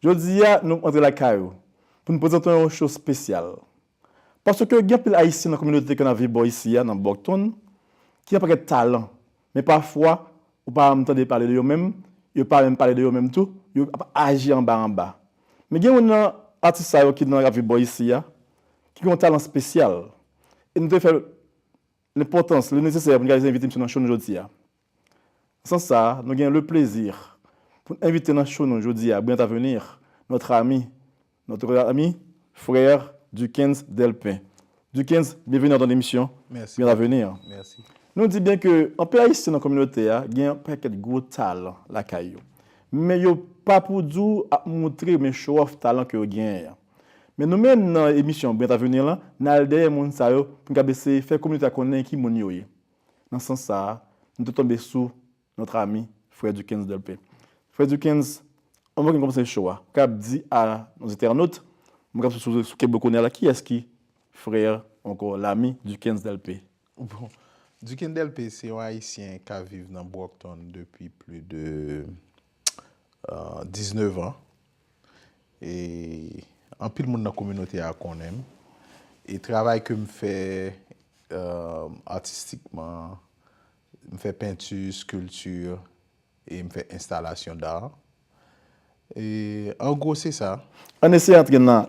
Jodi a nou antre lakay ou pou nou prezante w yon show spesyal. Paske gen anpil Ayisyen nan kominote ke nap viv bò isi a nan Bòktonn ki gen pakèt talan men pafwa ou pa janm tande pale de yo menm yo pa menm pale de yo menm tou yo ap aji anba anba. Men gen youn nan atis sa yo ki nan ap viv bò isi a ki gen yon talan spesyal e nou te fè Lenpòtans, le nesesè pou n reyalize envite misyon nan cho nou jodi a. Nan sans sa a, nou gen le plezi pou n envite nan cho nou jodi a Brillant Avenir, notre ami, notre ami, frère Duckens Delpin. Duckens, byenveni nan ton emisyon Brillant Avenir. Nou di byen ke anpe Ayisyen nan kominote a gen yon pakèt gwo talan lakay yo, men yo pa pou di w ap moutre oubyen show off talan ke yo genyen an. Men nou menm nan emisyon Brent Avenir lan, n al dèyè moun sa yo pou n kab eseye fè kominote a konnen ki moun yo ye. Nan sans sa a, nou te tonbe sou notre ami Frè Dukens Delpé. Frè Dukens, anvan ke n kòmanse show a, kab di a nos internautes, mwen kab sou sou keblo kounye a la, kiyès ki Frère ankò, l'ami Dukens Delpé? Bon, Dukens Delpé se yon Ayisyen k ap viv nan Brockton depi pli de 19 an. E anpil moun nan kominote a konnen m. E travay ke m fè atistikman, m fè penti, skilti, e m fè enstalasyon dar. E an gwo se sa. An eseye antre nan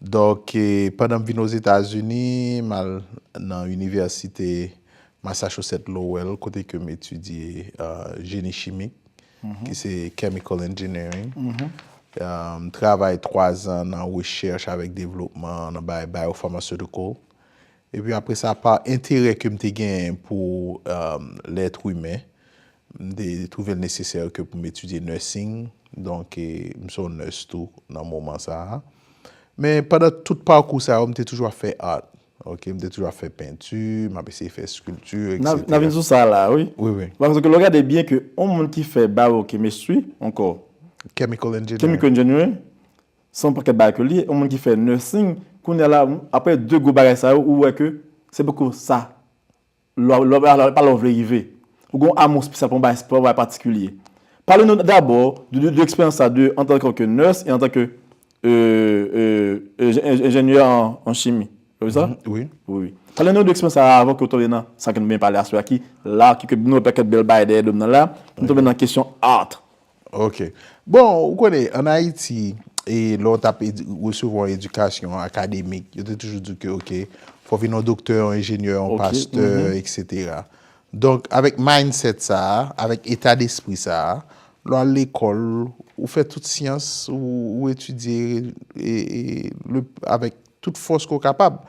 Donk, pandan m vin Ozetazini, m al nan inivèsite Massachusetts Lowell kote ke m etidye jeni chimik, ki se Chemical Engineering. M travay twazan nan rechèch avèk devlopman nan bay biopharmaceutical. Epi apre sa, pa enterè ke m te genyen pou lèt imen, m te twouve l nesesè ke pou m etidye nursing, donk m se yon nurse tou nan moman sa a. Men pandan tout pakou sa yo, m te toujou ap fè art, ok, m te toujou ap fè penti, m ap eseye fè sculpture, etc. N ap vin sou sa la a, wi. Wi, wi. Paske lè w gade byen ke yon moun ki fè bawokemistri, ankò. Chemical engineering. Chemical engineering, Se yon pakèt bagay ke li ye, yon moun ki fè nursing, kounye a la, aprè 2 gwo bagay sa yo, ou wè ke se poko sa lè w, e pa lè w vle rive. Ou gen yon amou spesyal pou yon bagay, pou yon bagay patikilye. Pale nou dabò de eksperyans sa de antanke ke nurse e antanke enjenyè an chimi. Se byen sa? Wi. Wi. Pale nou de eksperyans sa avan ke w tonbe nan sa ke nou byen pale aswè a ki la, ki ke nou wè pakèt bèl bagay dèyè do m nan la, nou tonbe nan kesyon art. Ok. Bon, ou konnen, an Ayiti, e lè w t ap resevwa yon edikasyon akademik, yo te toujou di w ke ok, fò w vin yon doktè, yon enjenyè, yon pastè, eksetera. Donk, avèk mindset sa a, avèk eta despri sa a, lè w al lekòl, ou fè tout syans, ou etidye avèk tout fòs ke w kapab.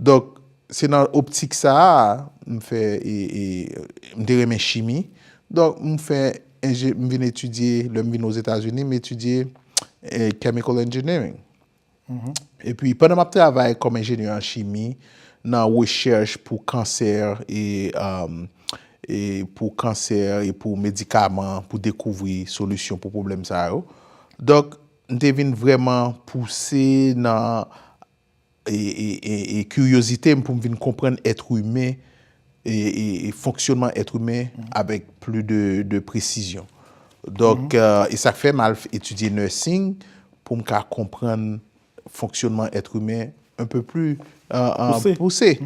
Donk, se nan optik sa a, m fè, m te renmen chimi. Donk, m fè. Enje, m vin etidye, lè m vin Ozetazini, m etidye Chemical Engineering. E pi, pandan m ap travay kòm enjenyè an chimi, nan rechèch pou kansè e pou kansè e pou medikaman pou dekouvri solisyon pou pwoblèm sa yo. Donk, m te vin vrèman pouse nan. e kiryozite m pou m vin konprann èt imen e fonksyonman èt imen avèk pli de presizyon. Donk, e sa k fè m al etidye nursing pou m ka konprann fonksyonman èt imen anpe pli pouse.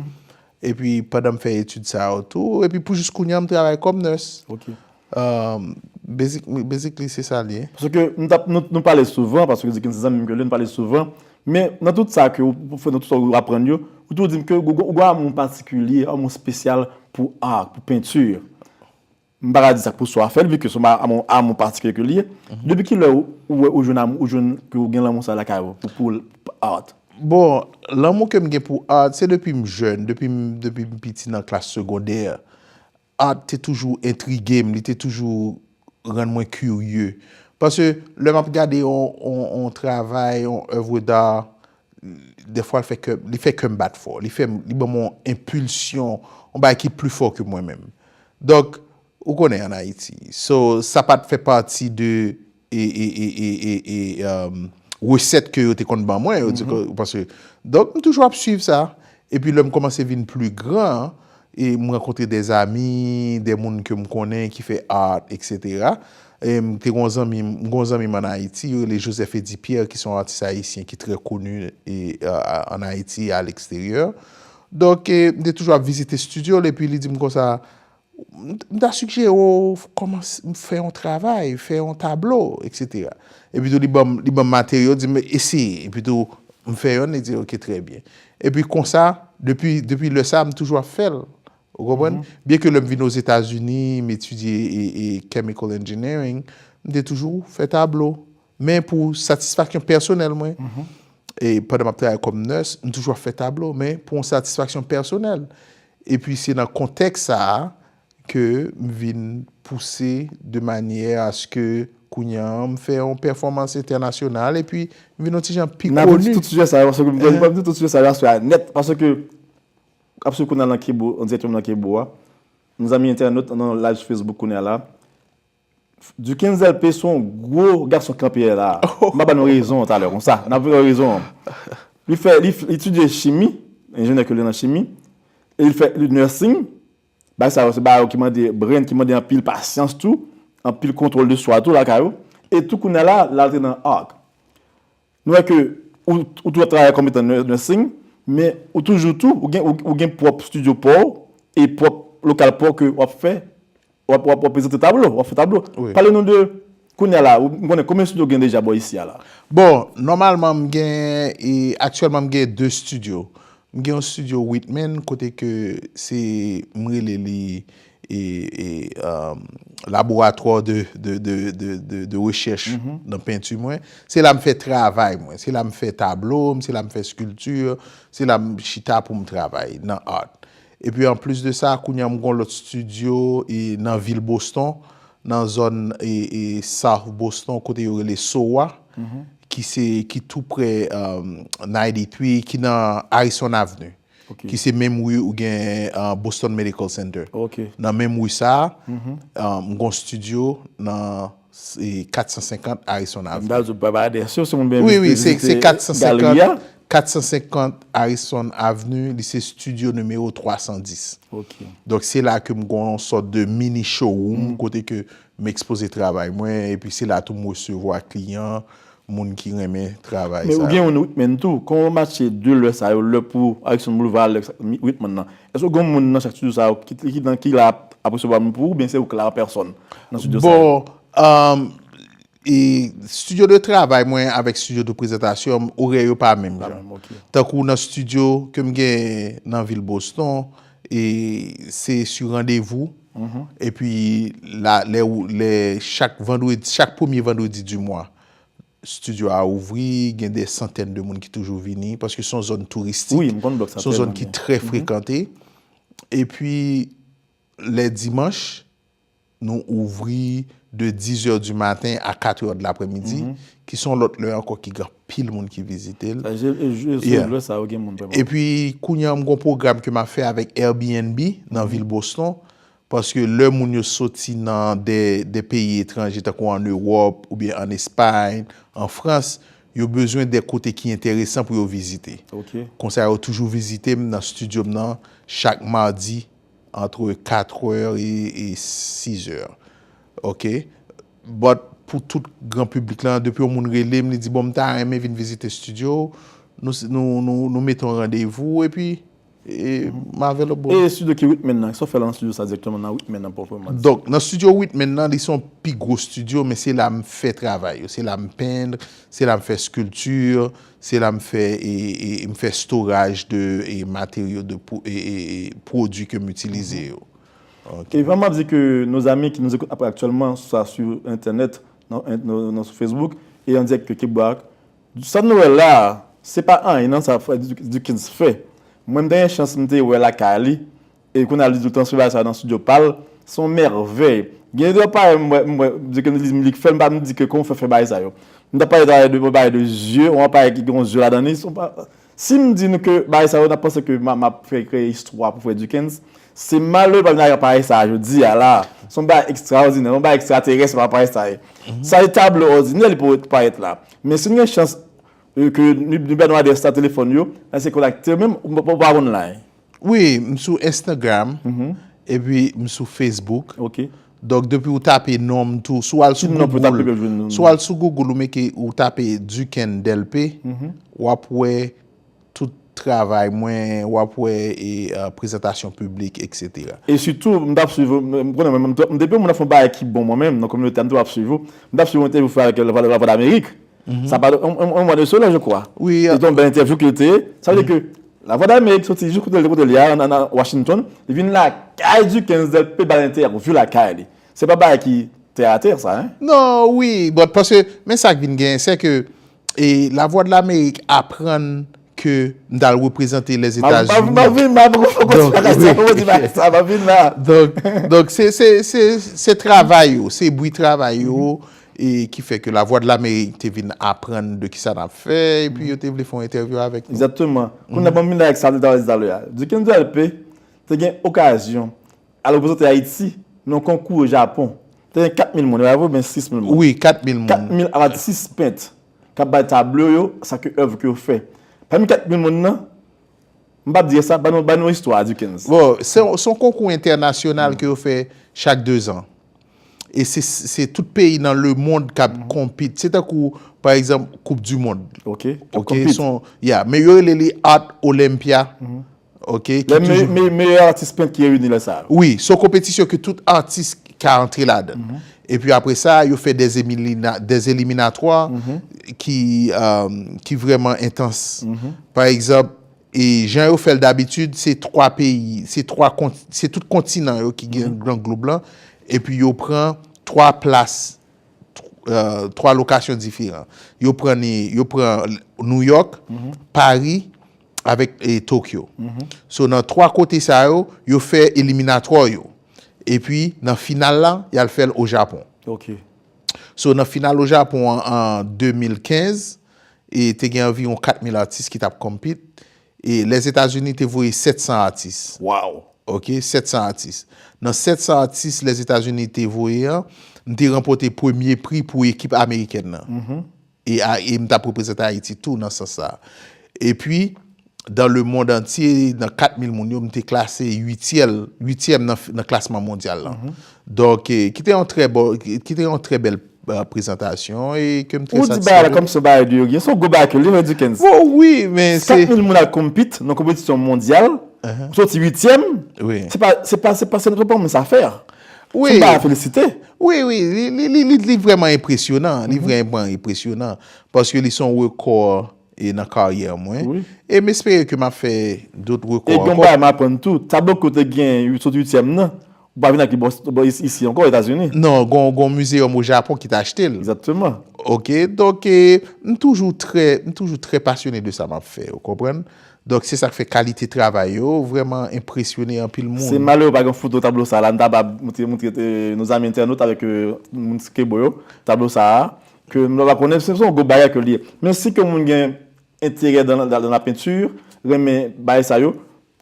Epi pandan m fè etid sa yo tou, epi pou jis kounye a m travay kòm nurse. Ok. Basically se sa l ye. Paske m t ap, nou pale souvan, paske Dickens se zanmi m ke l ye, nou pale souvan, men nan tout sa ke ou fè, nan tout sa ou aprann yo, ou toujou di m ke ou gen yon amou patikilye, yon amou spesyal pou art, pou peinture. M pa ka di sa k pou swa fè l, vi ke swa m a amou patikilye ke l ye. Depi ki lè ou wè ou jwenn amou, ou jwenn ke ou gen lanmou sa lakay ou pou art? Bon, lanmou ke m gen pou art, se depi m jèn, depi m depi m piti nan klas segondè, art te toujou entrige m, li te toujou rann mwen kirye. Paske lè m ap gade yon yon travay, yon oeuvre d'art, Dèfwa l fè kè m, li fè kè m bat fò. Li fè m, li ban m yon enpilsyon, yon bagay ki pli fò ke mwen menm. Donk, ou konnen an Ayiti. So, sa pa t fè pati de resèt ke yo te konn ban mwen. Yo di ke, paske, donk m toujou ap swiv sa. Epi lè m kòmanse vin pli gran, e m rankontre dè zami, dè moun ke m konnen ki fè art etc. E m te gen yon zanmi, m gen yon zanmi m an Ayiti, yo rele Joseph Eddy Pierre ki se yon atis ayisyen ki trè koni an Ayiti e a leksteryè. Donk m te toujou ap vizite studio l epi li di m konsa, M ta sigjere w kòmanse fè yon travay, fè yon tablo, eksetera. Epitou li ban m materyo, di m eseye. Epitou m fè yonn, li di ok trè byen. Epi konsa, depi lè sa, m toujou ap fè l. Ou konprann? Byen ke lè m vin Ozetazini, m etidye chemical engineering, m te toujou fè tablo. Men pou satisfaksyon pèsonèl mwen, e pandan m ap travay kòm nès, m toujou ap fè tablo, men pou yon satisfaksyon pèsonèl. E pi se nan kontèks sa a ke m vin pouse de manyè aske kounye a m fè yon pèfòmans entènasyonal e pi m vin yon ti jan pi koni. N ap vini sou sijè sa yo, paske m ap vini sou sijè sa yo aswè a nèt, paske apre kou n al nan kebo, an dirèk yo menm nan kebo a, mezanmi entènot, nan laj Facebook kounye a la, Duken Zèlpe son gwo gason kanpe yè la a. M ap ba nou rezon an talè konsa. N ap pran rezon an. Li fè, li etidye chimi, enjenyè ke li nan chimi, e li fè nursing. Bagay sa yo se bagay ki mande brenn, ki mande anpil pasyans tou, anpil kontwòl de swa tou lakay ou. E tou kounye a la, l antre nan art. Nou wè ke ou tou ap travay kòm etan nursing, men ou toujou tou, ou gen pwòp studio pa w, e pwòp lokal pa w ke wap fè, wap prezante tablo, wap fè tablo. Pale nou de, kounye a la, m konnen konbyen studio gen deja bò isi a la? Bon, nòmalman m gen, e aktyèlman m gen 2 studio. M gen yon studio Whitman kote ke se, m rele li laboratwa de rechèch nan penti mwen. Se la m fè travay mwen. Se la m fè tablo m, se la m fè skilti, se la m chita pou m travay nan art. E pi an plis de sa, kounye an m gon lòt studio nan vil Boston, nan zòn South Boston kote yo rele Sowa, ki tou pre 93, ki nan Harrison Avenue. ki se menm ri ou gen Boston Medical Center. Nan menm ri sa a, m gon studio nan 450 Harrison Avenue. Mda di pa adrès yo, si moun vle vizite galri a. 450 Harrison Avenue, li se studio nimewo 310. Donk se la ke m gon yon sòt de mini showroom kote ke m ekspoze travay mwen, epi se la tou m resevwa kliyan Moun ki renmen travay Men ou sa gen yo. youn Wickman tou, kòman w matche 2 lè sa yo, lè pou Alexandre Boulevard ak lè pou Wickman nan? Èske w gen moun nan chak studio sa yo ki ki nan ki la ap resevwa moun pou ou oubyen se ou k la an pèsòn nan studio sa yo? Bon, e studio de travay mwen avèk studio de prezantasyon m, orè yo pa menm Pa jan. menm, ok. Tankou nan studio ke m gen nan vil Boston, e se su randevou. Epi la lè ou lè chak vandredi chak premye vandredi di mwa studio a ouvri gen dè santèn de moun ki toujou vini paske son zòn touristik son zòn ki trè frekante epi lè dimanch nou ouvri de dizè di maten a katrè dlapremidi ki son lòt lè ankò ki gen pil moun ki vizite l. E pi kounye an m gon pwogram ke m ap fè avèk Airbnb nan vil Boston. Paske lè moun yo soti nan de peyi etranje tankou an Ewòp ou byen an Espay, an Frans, yo bezwen de kote ki enteresan pou yo vizite. Konsa yo toujou vizite m nan studio m nan chak Mardi antre 4 è e 6 è. But pou tout gran piblik lan depi yon moun relem li di bon mta renmen vin vizite studio ou nou mete yon randevou epi mavèl ok boo. E studio ki Whitman nan eske w fè lan studio sa direkteman nan Whitman nan pwopreman di? Donk nan studio Whitman nan li se yon pi gwo studio men se la mfè travay yo se la mpenn se la mfè sculpture se la mfè mfè storage de materyo de pwodwi kem itilize yo. Kvan map di ke nos amis ki nous écoutent après actuellement soit sur internet nan sou Facebook et en direct ke Barack sa nou wè la se pa anyen nan sa Dukens fè mwen m te gen chans m te wè lakay li e kounye a li tou transfere bagay sa nan studio pa l se yon mèvèy gen de aparèy m wè m wè Dukens li m li k fè l m pa m di ke kòman w fè fè bagay sa yo m ta pale ta w de yon aparèy de zye yon aparèy ki gen yon zye ladan li Si m di nou ke bagay sa yo, n ap panse ke m ap fè kreye istwa pou frè Dikens. Se malere pa vin ak aparèy sa a jodi a la a. Se yon bagay ekstraòdinè, yon bagay ekstraterès menm aparèy sa a ye. Sa se tablo òdinè li pou parèt la. Men si nou gen chans ke nou bènwadè sa telefòn yo, n a eseye kontakte yo menm ou pa konn la a. Wi, m sou Instagram, epi m sou Facebook. Ok. Donk depi ou tape non m tou, si w al sou Google. Ki non pou tape pou jwenn non m? Si w al sou Google ou mete, ou tape Duken Delpe, w ap wè tout travay mwen, w ap wè e prezantasyon piblik, eksetera. E sitou, m tap swiv ou, m konnen mwen menm, depi yon moun ap fè yon bagay ki bon mwen menm, nan kominote a m toujou ap swiv ou, m tap swiv yon entèvyou ou fè avèk Lavwadameric, sa pa yon mwa de sela je kwa. Wi. Se te yon bèl entèvyou ke l te ye, sa vle di ke. Lavwadlamerik soti jis kote l te kote li a nan Washington, li vin lakay Duckens del Pè Balente ak yon view lakay li. Se pa bagay ki tè a tè sa hein. Non wi but paske men sak vin genyen sè ke Lavwadlamerik aprann ke m t al reprezante Lèzetazini. Map vin la poko fon konti bagay sa poko di bagay sa map vin la. Donk se travay yo se bwi travay yo. E ki fè ke Lavwadlamerik te vin aprann de kisa nap fè, epi yo te vle fè yon entèvyou avèk nou. Exactement. Kounye a banm vini avèk sa nou te pale talè a. Duken Delpé te gen okazyon al reprezante Ayiti nan yon konkou o Japon. Te gen 4 mil moun, e pa vre oubyen 6 mil moun? Wi, 4 mil moun. 4 mil atis pent kap bay tablo yo sa ke èv ke yo fè. Pami 4 mil moun nan, M pap di esa, ban nou istwa a Dickens. Bon, se yon konkou entènasyonal ke yo fè chak dezan. E se tout peyi nan lemond k ap konpit. Se tankou, pa egzanp, koup di mond. Ok, k ap konpit. Ya, men yo rele li Art Olympia. Ok, ki toujou. Meyè atis pent ki reyini lè sa yo. Wi, se yon konpetisyon ke tout atis ka antre ladan. Epi apre sa, yo fè dè eliminatwa ki vrèman entans. Pa egzanp, jan yo fè l dabitid, se 3 peyi, se tout kontinan yo ki gen gran glob lan, epi yo pran 3 plas, 3 lokasyon diferan. Yo pran Nouyòk, Pari, avèk Tokyo. So nan 3 kote sa yo, yo fè eliminatò yo. E pi nan final la, y al fè l o Japon. So nan final o Japon an an 2015, e te gen anviwon 4 mil atis ki t ap compete. E Lèzetazini te voye 700 atis. Ok, 700 atis. Nan 700 atis Lèzetazini te voye an, m te ranpòte premye pri pou ekip amerikèn nan. E a e m t ap reprezante Ayiti tou nan sans sa a. Epi, dan le mond antye, nan 4 mil moun yo, m te klase uityèl, uityèm nan nan klasman mondyal lan. Donk, ki te yon trè bon, ki te yon trè bèl prezantasyon e ke m trè satisfè de li. Ou di bagay la kòmsi se yon bagay de rien, se yon gwo bagay ke li menm Dickens. Bon, wi, men se. 4 mil moun al konpit nan konpetisyon mondyal, ou soti uityèm, se pa, se pa, se pa, se pa yon moun sa fè. Wi. Timba a felisite. Wi wi li vreman enpresyonan, li vreman enpresyonan paske li son rekò e nan karyè mwen e m espere ke m ap fè dot rekò ankò. E gen yon bagay m aprann tou, tablo ke w te gen sot uityèm nan, ou pa vin ak li bò isi ankò Etazini. Non, gen yon mizeyòm o Japon ki te achte l. Egzakteman. Ok, donk m toujou trè, m toujou trè pasyone de sa m ap fè, ou konprann. Donk se sa k fè kalite travay yo vrèman enpresyone anpil moun. Se malere pa gen foto tablo sa la, m ta ba moutre nos amis internautes avèk moun Skibo yo tablo sa a, ke m pa konnen, se yon gwo bagay ke li ye. Men si ke moun gen enterè dan la peinture, renmen bagay sa yo,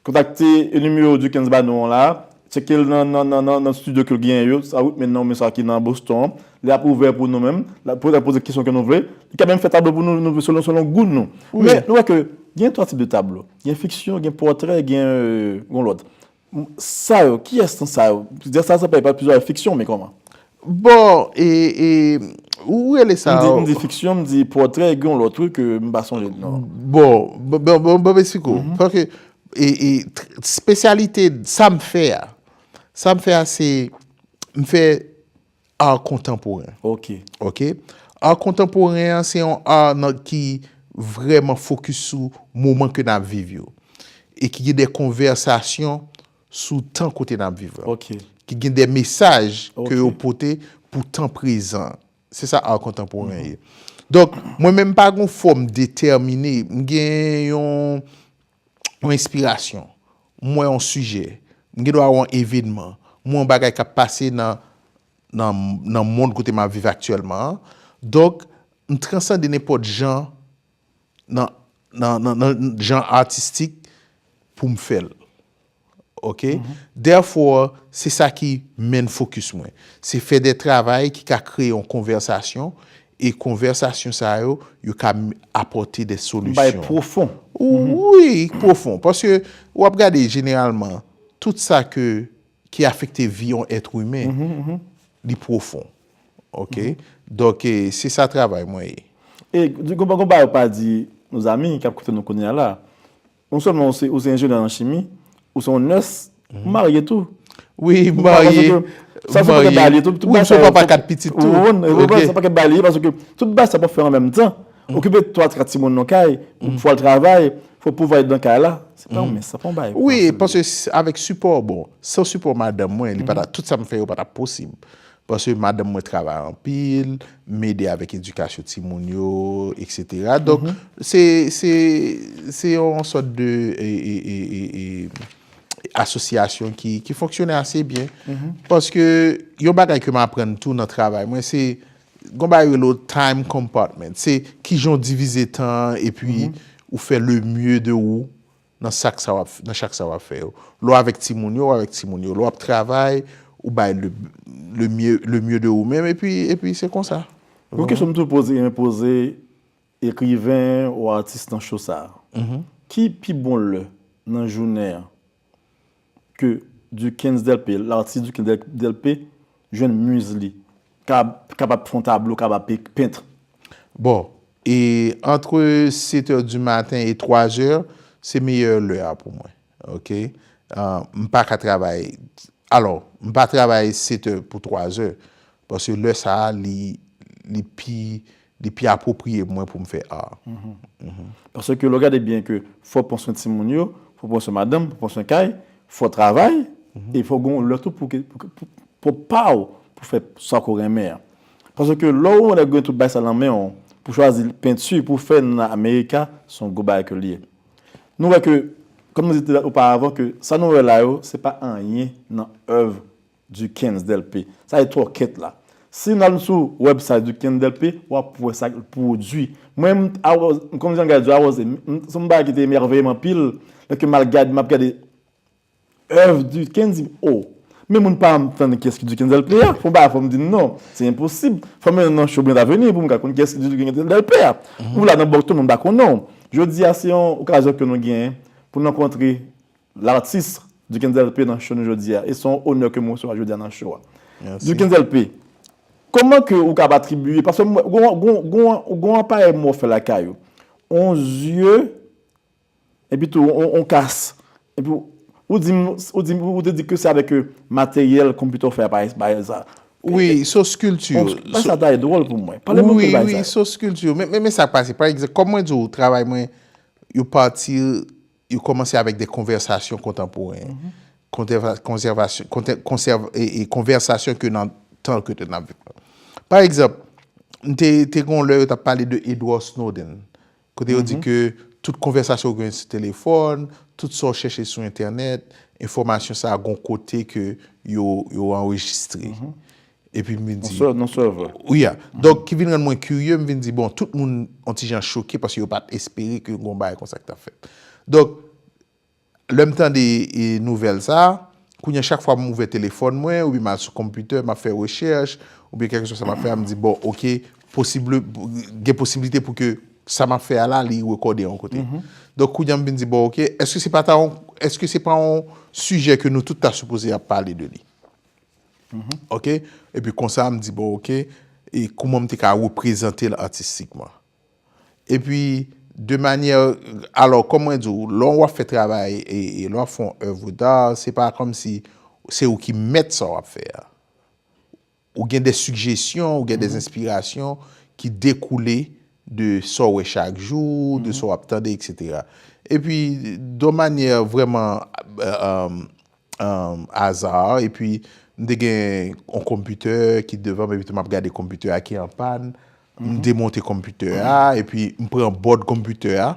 kontakte nimewo Duckens ba nou an la a, Tcheke l nan nan nan nan nan studio ke l genyen yo, sa wi, men nan men sa ki nan Boston an. Li ap ouvè pou nou menm. L ap poze poze kesyon ke nou vle. Li ka menm fè tablo pou nou nou selon selon gou nou. Men, nou wè ke gen twa tip de tablo. Gen fiksyon, gen pòtrè, gen yon lòt. Sa yo, kiyès nan sa yo? Dè sa sa pa e pa toujou avèk fiksyon men kòman? Bon e e ou rele sa. M di fiksyon, m di pòtrè e gen yon lòt wi ke m pa sonje non. Bon, bon m esplike w. Paske e e spesyalite sa m fè a, sa m fè a se m fè art kontanporen. Ok. Ok. Art kontanporen an se yon art nan ki vrèman fokis sou moman ke n ap viv yo. E ki gen de konvèsasyon sou tan kote nap viv la ki gen de mesaj ke yo pote pou tan prezan se sa ar kontanporen ye donk mwen menm pa gon fòm detèmine m gen yon yon enspirasyon m wè yon sijè m gen dwa wè yon evenman m wè yon bagay kap pase nan nan nan mond kote map viv aktyèlman an donk m transande nenpòt jan nan nan jan atistik pou m fè l ok therefore se sa ki main focus mwen se fè de travay ki ka kreye yon konvèsasyon e konvèsasyon sa yo yo ka apòte de solisyon bay pwofon wi pwofon paske w ap gade jeneralman tout sa ke ki afekte vi yon èt imen li pwofon Ok Donk se sa travay mwen ye. E gongon bagay ou pa di nou zanmi kap koute nou kounya la. Non sèlman ou se enjenyè nan chimi, ou se yon nès, ou marye tou. Wi m marye, m marye. Wi m se yon papa 4 pitit tou. Ou konprann? Ok. Se yon pakèt bagay li ye paske tout bagay sa pou fè an menm tan. Okipe 3, 4 timoun nan kay, fò al travay, fò pwovay nan kay la. Se pa yon mince, se pa yon bagay fasil. Wi paske avèk sipò bon, san sipò madanm mwen li pa ta, tout sa m fè yo pa ta posib. Paske madanm mwen travay anpil, m ede avèk edikasyon timoun yo, eksetera. Donk, se, se, se yon sòt de e, e, e, e, e, asosyasyon ki, ki fonksyone ase byen. Paske yon bagay ke m aprann tou nan travay mwen, se gon bagay yo rele yo time compartment. Se kijan w divize tan an epi ou fè le mieux de ou nan sak sa wap nan chak sa wap fè yo lè w avèk timoun yo w avèk timoun yo lè wap travay ou bay le le mye le mye de ou menm epi epi se konsa Yon kesyon m toujou poze mwen poze ekriven ou atis nan cho sa ki pi bon lè nan jounen an ke Dukens Delpe, l'artiste Dukens Delpe, jwenn muse li, kapab pou fè yon tablo, kapab pou pent. Bon, e entre 7 heures du matin et 3 heures, se meyè lè a pou mwen. Ok? M pa ka travay, alò, m pa travay 7 heures pou 3 heures, paske lè sa a li pi Li pi apwopriye pou mwen pou m fè ar. Paske lè w gade byen ke fò w pran swen timoun yo, fò w pran swen madanm, fò w pran swen kay, fò w travay, e fò w gen yon lè tou pou pwòp pa w, pou fè sa ke w renmen an. Paske lè w lè gen tout bagay sa nan men w, pou chwazi penti pou w fè nan America, se yon gwo bagay ke l ye. Nou wè ke, kòm nou di te oparvan ke sa nou wè la yo, se pa anyen nan èv Duckens Delpé sa se twòkèt la si nou al sou website Duckens Delpé wap wè sa l pwodwi mwen m t aròz m konn jan l gadjò aròze m son bagay ki te emèveye m anpil lè ke m al gad m ap gade èv Duckens di m o men moun pa m tann kiyès ki Duckens Delpé a fon bagay fò m di n non se enposib fò m nan cho Brent Avenue pou m ka konn kiyès ki Duckens Delpé a ou la nan Bòkton moun pa konnen w jodi a se yon okazyon ke nou genyen pou n rankontre L'artiste Dukens LP nan show nou jodia e son onè ke m resevwa jodia nan show a. Dukens LP, Koman ke ou kab atribiye, paske m wè ou gon aparèy mò fè lakay ou, on zye epi tou on kas, epi ou di m, ou te di ke se avèk materyèl konpitè ou fè aparèy sa. Wi, son sculpture. On bagay sa ta e dwòl pou mwen. Pale m anpe de bagay sa yo. Wi, wi, son sculpture. Men sa k pase, pa egzanp, kòm mwen di w travay mwen yo pati. Yo kòmanse avèk de konvèsasyon kontanporen, konvèsasyon ke nan tan ke te nan viv la. Pa egzanp, te gon lè yo tap pale de Edward Snowden, kote yo di ke tout konvèsasyon ou gen sou telefòn, tout sa ou chèche sou entènèt, enfòmasyon sa gon kote ke yo anrejistre. Epi m vin di. Yon sèl sèvè. Wi a. Donk, ki vin rann mwen kirye, m vin di, bon, tout moun yon ti jan choke paske yo pa t espere ke gon bagay konsa ki t ap fèt. Donk, lè m tande nouvèl sa, kounye a chak fwa m ouvè telefòn mwen oubyen m al sou konpitè, m ap fè rechèch oubyen kèlkeswa sa m ap fè a, m di, bon, ok, posible, gen posiblite pou ke sa m ap fè a la li rekòde yon kote. Donk, kounye a m vin di, bon, ok, èske se pa ta yon, èske se pa yon sijè ke nou tout ta sipoze ap pale de li? Ok, epi konsa m di bon ok, e kouman m te ka reprezante l atistikman. Epi, de manyè, alò, kòm mwen di w, lè w ap fè travay, e lè w ap fè yon oeuvre d'art, se pa kòm si se ou ki mèt sa w ap fè a. Ou gen de sigjesyon, ou gen de enspirasyon ki dekoule de sa w wè chak jou, de sa w ap tande, etc. Epi, de manyè vrèman, aza epi m te gen yon konpitè ki devan m epi tou m ap gade konpitè a ki an pàn m demonte konpitè a epi m pran bòd konpitè a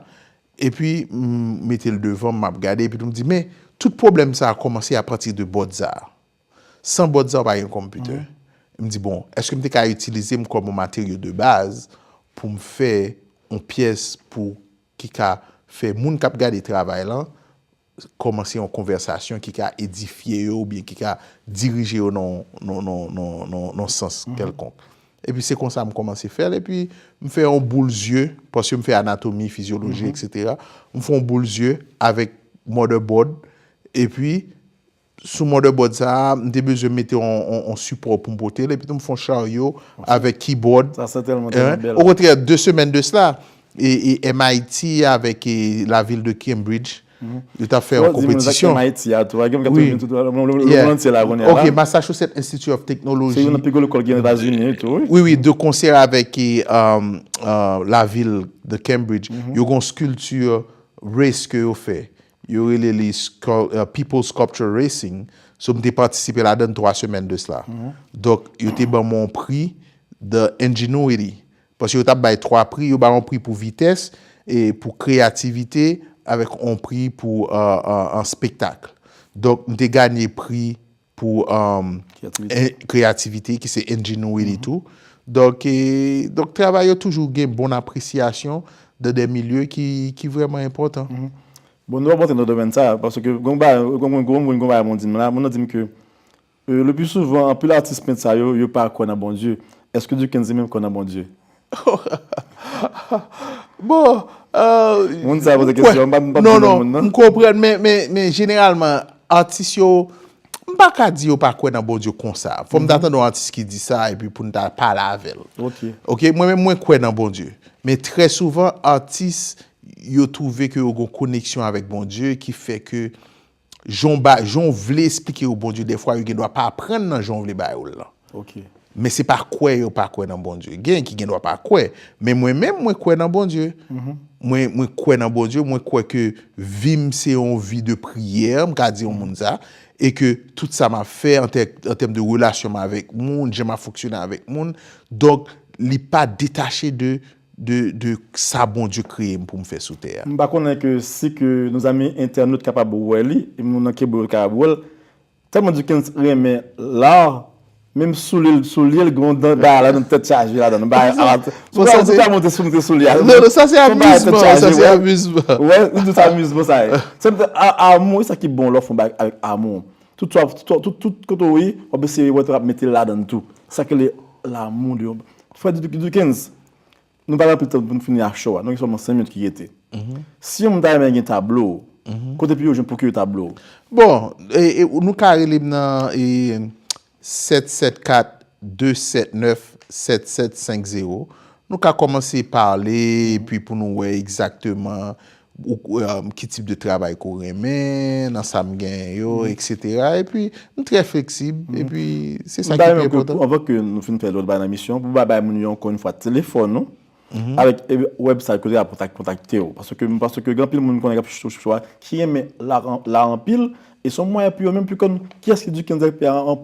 epi m mete l devan m ap gade epi tou m di men tout pwoblèm sa a kòmanse apati de bòd sa a san bòd sa a ou pa gen konpitè m di bon èske m te ka itilize m kòm yon materyo de baz pou m fè yon pyès pou ki ka fè moun k ap gade travay lan. kòmanse yon konvèsasyon ki ka edifye yo oubyen ki ka dirije yo nan yon sans kèlkonk. Epi se konsa m kòmanse fè l, epi m fè yon boul zye, paske m fè anatomi, fizyoloji, eksetera, m fè yon boul zye avèk motherboard, epi Sou motherboard sa a, m te bezwen mete yon sipò pou m pote l, epitou m fè yon charyo avèk keyboard. Sa sètèlman te yon bèl. Okontrè, de semèn de sla, MIT avèk lavil de Cambridge, yo t ap fè yon konpetisyon. Fò w di m MIT a tou, pagen m k ap toujou vin toutouni, lemonn antye la kounye a. Ok, Massachusetts Institute of Technology. Se youn nan pi gwo lekòl ki gen Etazini tou, wi. Wi, wi, de konsè avèk lavil de Cambridge, yo gen yon sculpture race ke yo fè. Yo rele li People Sculpture Racing. So m te patisipe ladan l 3 semèn de sla. Donk yo te ban mwen yon pri de ingenuity. Paske yo t ap bay 3 pri. Yo bay yon pri pou vitès, pou kreyativite avèk yon pri pou spektakl. Donk m te ganye pri. Pou kreyativite ki se ingenuity tou. Donk travay yo toujou gen bon apresyasyon dan de milye ki vreman enpotan. Bon nou ap rantre nan domèn sa, paske gen yon bagay moun di m la, moun nan di m ke le pli souvan anpil atis pent sa yo, yo pa kwè nan Bondye. Eske Dickenson menm kwè nan Bondye? Moun sa poze kesyon, mpa di non moun nan. M konprann men jeneralman atis yo, m pa ka di yo pa kwè nan Bondye konsa. Fò m ta tande yon atis ki di sa epi pou n ta pale avè l. Ok, mwen menm mwen kwè nan Bondye. Men trè souvan atis yo twouve ke yo gen yon koneksyon avèk Bondye ki fè ke Jan ba, jan w vle esplike yo Bondye dèfwa yo gendwa pa aprann nan jan w vle ba yo l lan. Ok. Men se pa kwè yo pa kwè nan Bondye. Gen ki gendwa pa kwè. Men mwen menm mwen kwè nan Bondye. Mwen mwen kwè nan Bondye, mwen kwè ke vi m se yon vi de priyè, m ka di yon moun sa, e ke tout sa m ap fè an tè, an tèm de relasyon m avèk moun, jan m ap fonksyone avèk moun, donk li pa detache de de sa Bondye kreye m pou m fè sou tè a. M pa konnen ke si ke nos amis internautes kapab wè li, e moun nan Quebreu kapab wè l, tèlman Dukens renmen l'art, menm soulye l soulye l gen yon dan bagay ladan l tèt chaje ladan l, bagay art. Bon sa se. Monte sou monte soulye a. Non non sa se amizman, sa se amizman. Wè, li di w se amizman sa ye. Art amour e sa ki bon lè w fè yon bagay avèk amour. Tout sa tout tout kote ou ye wap eseye wè wap mete ladann tou sa ki rele lanmou de yon frè Dukens nou pa gen anpil tan poun fini ak show a nou gen sèlman 5 minit ki rete si yon moun ta renmen gen tablo ou kote pou yo jwenn pwokire tablo ou? Bon nou ka rele m nan 774 279 7750 nou ka kòmanse pale epi pou nou wè egzakteman Ki tip de travay ke w renmen, nan sa m genyen yo, eksetera. E pi, m trè fleksib. E pi, se sa ki pi enpòtan. Anvan ke nou fin fè lòt bagay nan emisyon, pou ba bay moun yo ankò yon fwa telefòn ou, avèk website kote yo ka kontakte w. Paske m panse ke gen anpil moun konnen k ap chèche sou sa, ki renmen la anpil. E se yon mwayen pou yo menm pou yo konn kiyès ki Duc Kenza Epè a an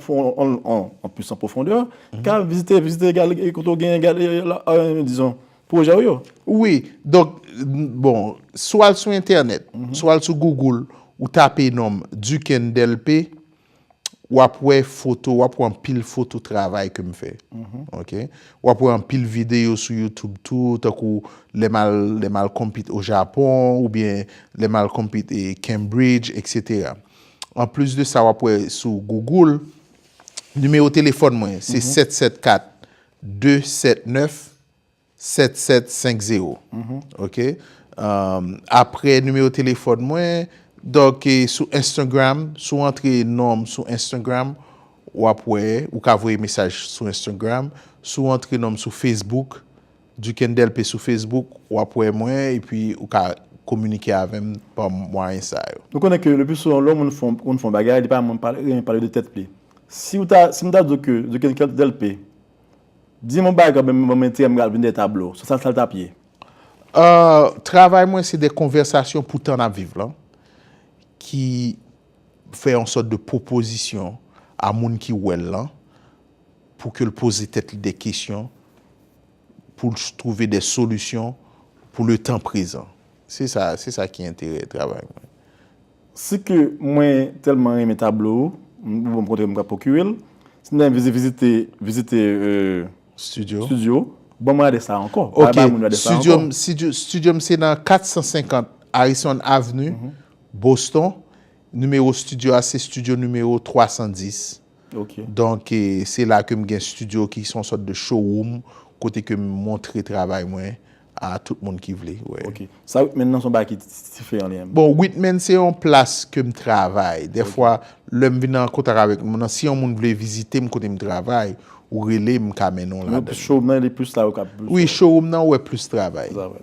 plis an pwofondè. Ka vizite, vizite, gade kote w genyen, gade, dizon, Pwojè w yo? Wi. Donk, bon, si w al sou entènèt, si w al sou Google, ou tape non m, Duken Delpé, w ap wè foto, w ap wè anpil foto travay ke m fè. Ok? W ap wè anpil videyo sou YouTube tou, tankou lè m al, lè m al compete au Japon, oubyen lè m al compete e Cambridge, etc. An plis de sa, w ap wè sou Google, nimewo telefòn mwen, se 774 279 7750 ok aprè nimewo telefòn mwen dòk sou enstagram si w antre nonm sou enstagram wap wè ou ka voye mesaj sou enstagram si w antre nonm sou facebook duken delpe sou facebook wap wè mwen epi ou ka kominike avèm pa mwayen sa yo. Nou konnen ke le plus souvan lè yon moun fè yon bagay li pa renmen pale de tèt li. Si mwen ta di w ke Dukendelpe. Dim on bagay banm yon menti an m pral vin dè tablo. Sa sa l tap ye? Travay mwen se dè konvèsasyon pou tan nap viv lan ki fè yon sòt de pwopozisyon a moun ki wè l lan pou ke l poze tèt li dè kesyon pou l twouve dè solisyon pou le tan prezan. Se sa se sa ki enterè travay mwen. Si ke mwen telman renmen tablo ou m ou banm kontre m ka pokire l si nèg vizi vizite vizite Studio studio banm rade sa ankò pa bay moun rade sa ankò. Studio studio m se nan 450 Harrison avenue Boston nimewo studio a se studio nimewo 310 ok donk se la ke m gen studio ki son sòt de showroom kote ke m montre travay mwen. A tout moun ki vle wè. Ok. Sa Whitman nan son bagay ki dife an li menm? Bon Whitman se yon plas ke m travay. Dè fwa lè m vin an kontak avèk moun nan si yon moun vle vizite m kote m travay, ou rele m m ka mennen w ladan. Mwen plis showroom nan li plis la yo kap. Wi showroom nan wè plis travay. Se sa vre.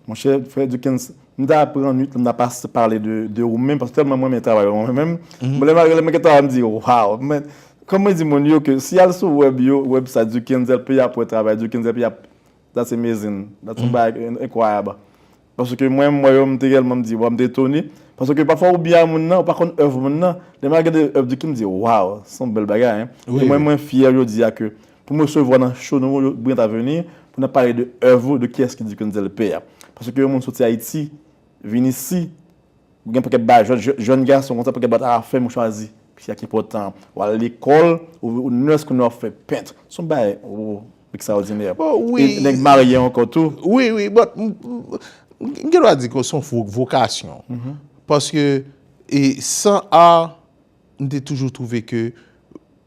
Monchè frè Dukens, m ta pran nwit la m ta pa pale de ou menm paske tèlman m renmen travay ou an menm. Bon lè m ap rele m gentan ap di waw. Men kòm mwen di moun yo ke si y al sou web yo, website Dukens LP y ap wè travay Dukens LP y ap That's amazing, that's yon bagay ki enkwayab. Paske mwen m wè yo m te tèlman m di waw m te etone. Paske pafwa ou byen a moun nan ou pa konn èv moun nan. Lè mwen al gade èv Duki m di waw se yon bèl bagay hein. E mwen mwen fyè jodi a ke pou m resevwa nan show nou yo Brillant Avenir pou n ap pale de èv ou, de kiyès ki Duki Wenzel P a. Paske yon moun soti Ayiti vin isi ou gen yon pakèt bagay jèn jèn gason konsa pakèt bagay ta fèm ou chwazi sa ki enpòtan an. Ou al lekòl ou nurse kounya w ap fè pent. Se yon bagay woo. Extraordinaire. Oh oui. E nèg marye ankò tou. Oui, oui. Bon, m gen dwa di ke son vokasyon. Paske e san art, m te toujou twouve ke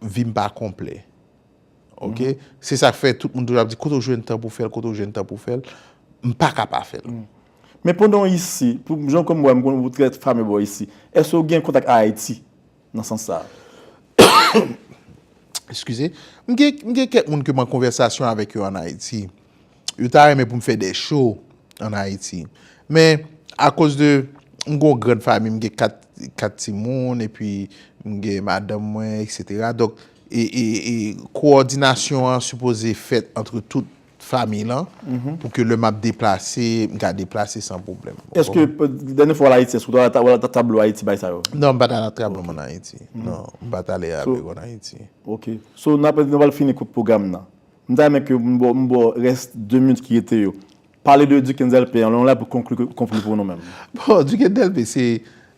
vi m pa konplè. Ok? Se sa k fè tout moun toujou ap di kote w jwenn tan pou w fè l, kote w jwenn tan pou w fè l. M pa ka pa fè l. Men pandan w isi, pou jan m konn wè, m konn ou trè famè bò isi. Èske w gen kontak a Ayiti? Nan sans sa a, m gen kèk moun ke m an konvèsasyon avèk yo an Ayiti. Yo ta renmen pou m fè de show an Ayiti. Men, akoz de m gen yon grand fami, m gen 4 ti moun, epi m gen madanm mwen, etc. Donk, e koòdinasyon an sipoze fèt antre tout Famiy lan, pou ke lè m ap deplase, m ka deplase san pwoblèm. Eske, dènye fwa w al Ayiti, eske w te al nan tablo Ayiti bay sa yo? Non, m pa t al nan tablo m an Ayiti. Non, m pa t ale a biwo an Ayiti. Ok. So, n ap, nou pral fini kout pwogram nan. M ta renmen ke m ba w, m ba w rès 2 minit ki rete yo. Pale de Duckens Delpé an, lè nou la pou konkli, konkli pou nou menm. Bon, Duckens Delpé, se,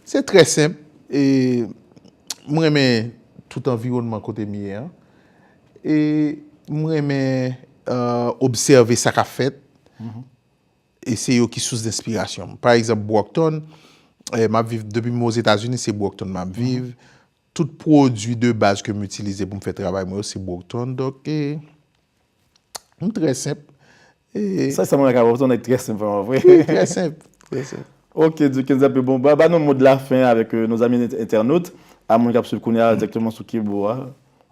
se trè senp. E, m renmen tout anviwònman kote m ye an. E m renmen obsève sa k ap fèt. E se yo ki sous denspirasyon m. Pa egzanp Brockton, m ap viv, depi m Ozetazini se Brockton m ap viv. Tout pwodui de baz ke m itilize pou m fè travay mwen yo se Brockton. Donk e m trè senp. Sa sa mwen ka wè ou son nèg trè senp vrèman vre. Wi trè senp, trè senp. Ok Dukens anpe bon ba nou mo de la fin avèk nou zanmi entènot a moun kap swiv kounya direkteman sou kibo a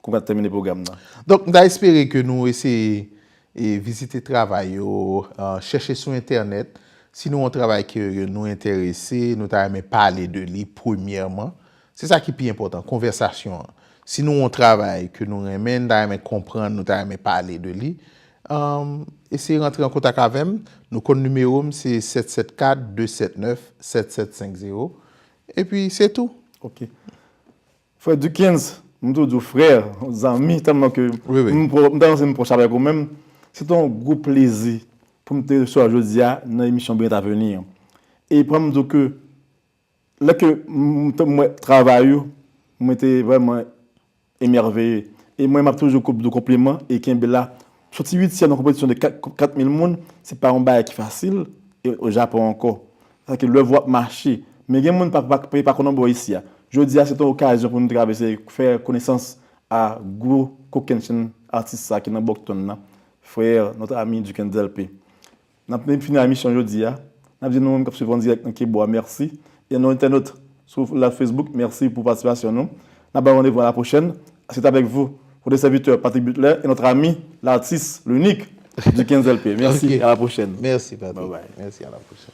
kou map tèmine pwogram nan. Donk m ta espere ke nou eseye e vizite travay yo chèche sou entènèt si nou wè yon travay ke nou entèrese nou ta renmen pale de li premyèman Se sa ki pi enpòtan, konvèsasyon an. Si nou yon travay ke nou renmen, nou ta renmen konprann, nou ta renmen pale de li, eseye rantre an kontak avè m, nou konn nimewo m se 774 279 7750, epi se tou. Ok. Frè Duckens, m toujou di w frè, zanmi, tèlman ke m ta panse m pwòch avèk ou menm, se te yon gwo plezi pou m te resevwa w jodi a nan emisyon Brillant Avenir. E pèmèt m di w ke Lè ke m te wè travay ou, mwen te vrèman emèveye. E mwen m ap toujou di w konpliman e kenbe la. Soti uityèm nan konpetisyon de 4 mil moun, se pa yon bagay ki fasil e o Japon ankò. Sa vle di ke lèv ou ap mache. Men gen moun ki pa konnen bò isi a. Jodi a se te yon okazyon pou nou travèse, fè konesans a gwo kokennchenn atis sa ki nan Bòktonn nan, frè, notre ami Duc Endelpe. N ap fini emisyon jodi a, n ap di nou menm k ap swiv an dirèk nan Kebo a mèsi e a nou entènot sou live Facebook mèsi pou patisipasyon nou. N ap ba nou randevou a la pwochèn. C'est avec vous votre serviteur Patrick Butler et notre ami, l'artiste, l'unique, Dukenzel P. Mèsi, a la pwochèn. Mèsi Patrick. Bye bye. Mèsi, a la pwochèn.